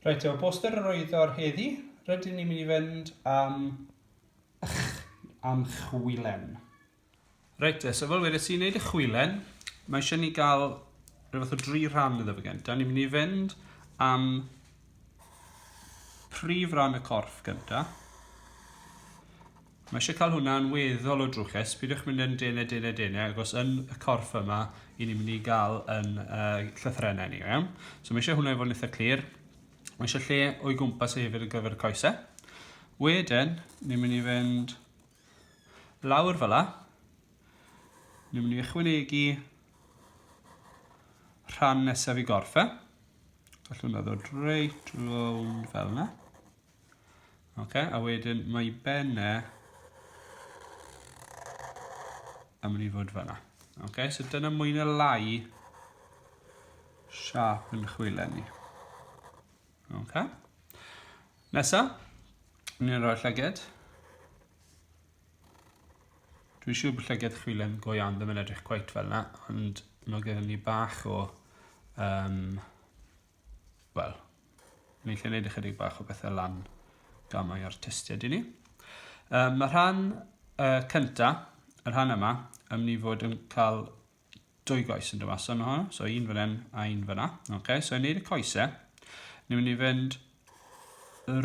Reit, efo'r poster yr oedd o'r heddi, rydyn ni'n mynd i fynd am... Ych, am chwilen. Reit te, so fel wedi ti'n neud y chwilen, mae eisiau ni gael rhywbeth o dri rhan iddo fe gyntaf. Ni'n mynd i fynd am prif ran y corff gyntaf. Mae eisiau cael hwnna yn weddol o drwchus, pidiwch mynd yn dene dene dene ac os yn y corff yma i ni'n mynd i gael yn uh, llythrenau ni, iawn? So mae eisiau hwnna i fod yn eitha clir, mae eisiau lle o'i gwmpas ei hefyd ar gyfer y coesau. Wedyn, ni'n mynd i fynd lawr fel la, ni'n mynd i ychwanegu rhan nesaf i gorff e. Gallwn ddod reit rownd fel yna. Ok, a wedyn mae benne yn mynd i fod fanna. Ok, so dyna mwy na lai siap yn chwile ni. Ok. Nesa, ni'n rhoi llyged. Dwi'n siŵr bod llyged chwilen go iawn ddim yn edrych cweit fel yna, ond mae gen i bach o um, wel, ni'n lle wneud ychydig bach o bethau lan gamau artistiaid i ni. Um, mae rhan uh, cynta, y rhan yma, yn mynd i fod yn cael dwy goes yn dyma. So, hwn, so un fan hyn a un fan yna. Okay, so i wneud y coesau, ni'n mynd i fynd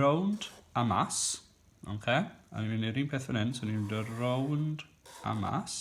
rownd a mas. Okay, a ni'n mynd i'r un peth fan hyn, so ni'n mynd rownd a mas.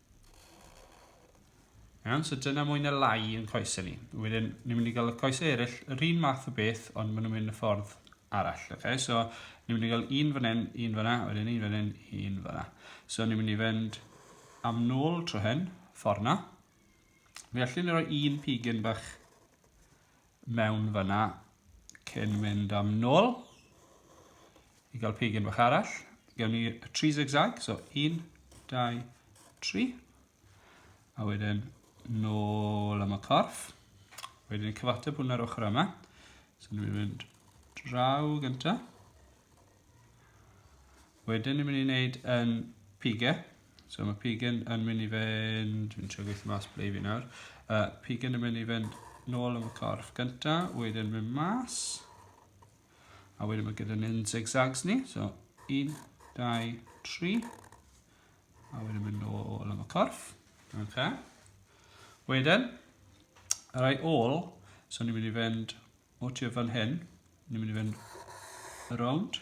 Iawn, so dyna mwy na lai yn coesau ni. Wedyn, ni'n mynd i gael y coesau eraill, yr un math o beth, ond maen nhw'n mynd y ffordd arall. Okay? So, ni'n mynd i gael un fan hyn, un fan hyn, wedyn un fan hyn, un fan hyn. So, ni'n mynd i fynd am nôl tro hyn, ffordd na. Mi allwn ni roi un pigyn bach mewn fyna cyn mynd am nôl i gael pigyn bach arall. Gewn ni y tri zigzag, so 1, 2, 3. A wedyn nôl am y corff. Wedyn ni'n cyfateb hwn ar ochr yma. So ni'n mynd draw gyntaf. Wedyn ni'n mynd i wneud yn pigau. So mae pigen yn mynd i fynd, fi'n trio gweithio mas ble i fi nawr, uh, pigen yn mynd i fynd nôl am y corff gynta, wedyn mynd mas, a wedyn mae gyda ni'n zigzags ni, so 1, 2, 3, a wedyn mynd nôl am y corff, okay. Wedyn, yr ai ôl, so ni'n mynd i fynd o tu fan hyn, ni'n mynd i fynd around,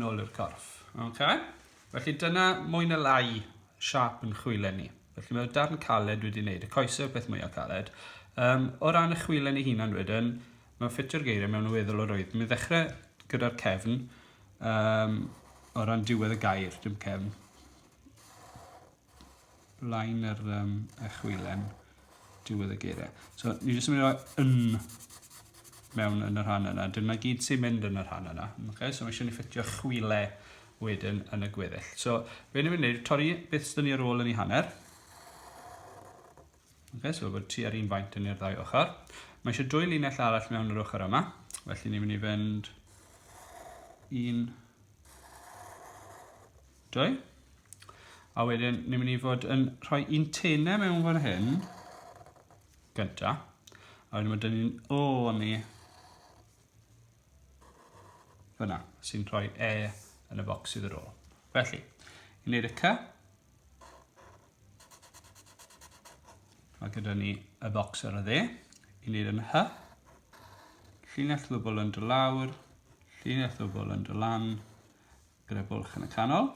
nôl i'r corff. Okay? Felly dyna mwy na lai siap yn chwilen ni. Felly mae'r darn caled wedi wneud y coesau peth mwyaf caled. Um, o ran y chwilen ei hunan wedyn, mae'n ffitio'r geiriau mewn y weddol o roedd. Mi ddechrau gyda'r cefn, um, o ran diwedd y gair, dim cefn. line yr um, chwilen diwedd y geiriau. So, ni jyst yn mynd i roi yn mewn yn y rhan yna. Dyna gyd sy'n mynd yn y rhan yna. Okay? So, mae eisiau ni ffitio chwile wedyn yn y gweddill. So, fe ni'n mynd i wneud, torri beth sydd ni ar ôl yn ei hanner. Okay, so bod tua'r un faint yn i'r ddau ochr. Mae eisiau dwy linell arall mewn yr ochr yma, felly ni'n mynd i fynd un, dwy. A wedyn ni'n mynd i fod yn rhoi un tenau mewn fan hyn, gynta. A wedyn mae dyn ni'n o ni fyna, sy'n rhoi e yn y bocs sydd ar ôl. Felly, i wneud y cy, Mae gyda ni y bocs ar y dde. I wneud yn hy. Llinell ddwbl yn dy lawr. Llinell ddwbl yn dy lan. Gyda bwlch yn y canol.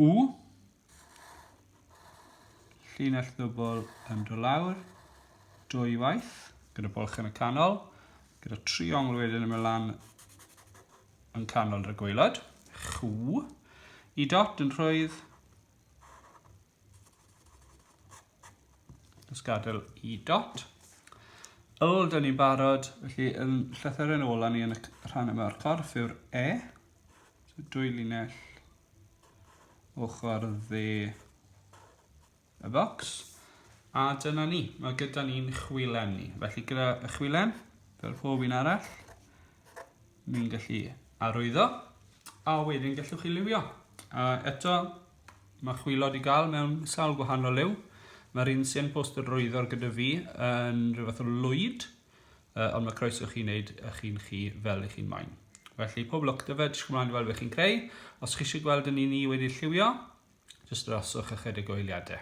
U. Llinell ddwbl yn dy lawr. Dwy waith. Gyda bwlch yn y canol. Gyda triongl wedyn yn mynd lan yn canol y gwaelod, chw, i dot yn rhwydd, os gadael i dot. Yl, dyn ni'n barod, felly yn llythyren ola ni yn y rhan yma o'r corff yw'r E, so dwy linell ochr dde y bocs. A dyna ni, mae gyda ni'n chwilen ni. Felly gyda y chwilen, fel pob un arall, ni'n gallu arwyddo, a wedyn gallwch chi liwio. A eto, mae chwilod i gael mewn sawl gwahanol liw. Mae'r un sy'n post yr rwyddor gyda fi yn rhywbeth o lwyd, uh, ond mae croeso chi'n neud y chi'n chi fel i chi'n moyn. Felly, pob lwc dyfed, fe, ddysg ymlaen i weld beth chi'n creu. Os chi eisiau gweld yn un ni wedi lliwio, Jyst droswch ychydig o eiliadau.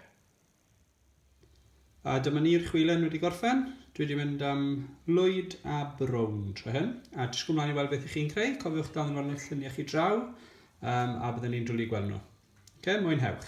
A dyma ni'r chwilen wedi gorffen. Dwi wedi mynd am lwyd a brown tro hyn. A disgwyl mlaen i weld beth i chi'n creu. Cofiwch dal yn arno'ch lluniau chi draw. Um, a byddwn ni'n dwlu gweld nhw. Ok, mwynhewch.